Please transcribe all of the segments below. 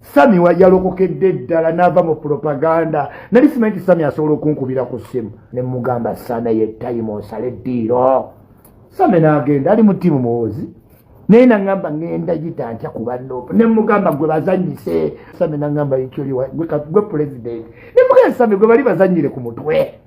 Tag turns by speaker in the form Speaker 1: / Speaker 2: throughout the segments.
Speaker 1: sami yalokokedde eddala n'ava mu propaganda nali simanyi nti sami asobola okunkubira ku ssimu ne mugamba sana ye tayimu osale eddiiro sami n'agenda ali mu tiimu muwoozi naye naŋamba ŋenda yita ntya ku bannoopa ne mugamba gwe bazanyise sami naŋamba ekyoliwa gwe pulezidenti ne mugamba sami gwe bali bazanyire ku mutwe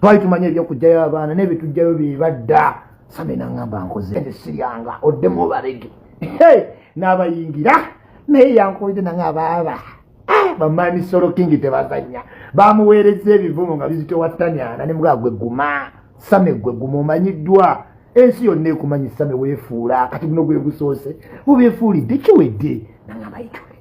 Speaker 1: twali tumanyi ebyokujjayo abaana naye bitujjayo byebadda sande nangamba nkoze nze siryanga oddemu obalege n'abayingira naye yankoide nange abaaba ah, bamaani solo kingi tebazanya bamuweereza ebivumo nga bizitewatanyana ne mugagwe guma same gwe guma omanyiddwa ensi yonna ekumanyi same weefuula kati guno gwe gusoose obeefuulidde kiwedde nange abayitule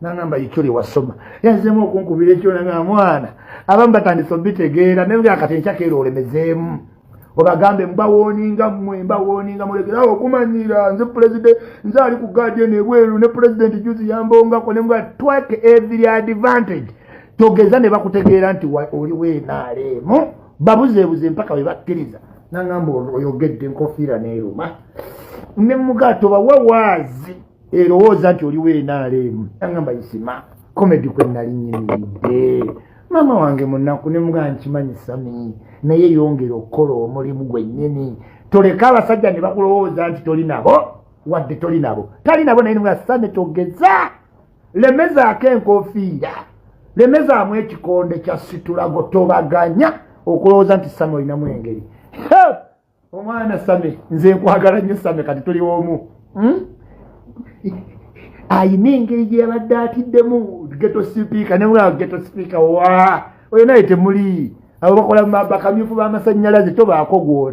Speaker 1: nangamba ikyoli wasoma yazemu okunkubira ekyona nga mwana abamu batandise obitegeera naye nga kati enkyakeera olemezeemu obagambe mbawoninga mwe mbawoninga mulekerawo okumanyira nze pulezidenti nze ali ku gadeni ebweru ne pulezidenti juzi yambongako nemga twake every advantage togeza ne bakutegeera nti oli wenaaleemu babuzeebuze mpaka we bakkiriza nangamba oyogedde enkofiira neeruma ne muga tobawa waazi erowooza nti oliwo enaaleemu agamba isima komedi kwe nali nyimiridde maama wange munaku ne mugaa nkimanyi sami naye yongera okukola omulimu gwennyini toleka abasajja ne bakulowooza nti toli nabo wadde toli nabo tali nabo naye nimuga sami togeza lemezaako enkofiira lemezaamu ekikonde kya situlago tobaganya okulowooza nti sami olinamu engeri omwana same nze nkwagala nnyo same kati tuli omu hmm? ayina engeri gyeyabadde atiddemu geto sipiika newulaba geto sipiika wa oyo naye temuli abo bakola bakamyufu b'amasannyalaze tobaako gwoti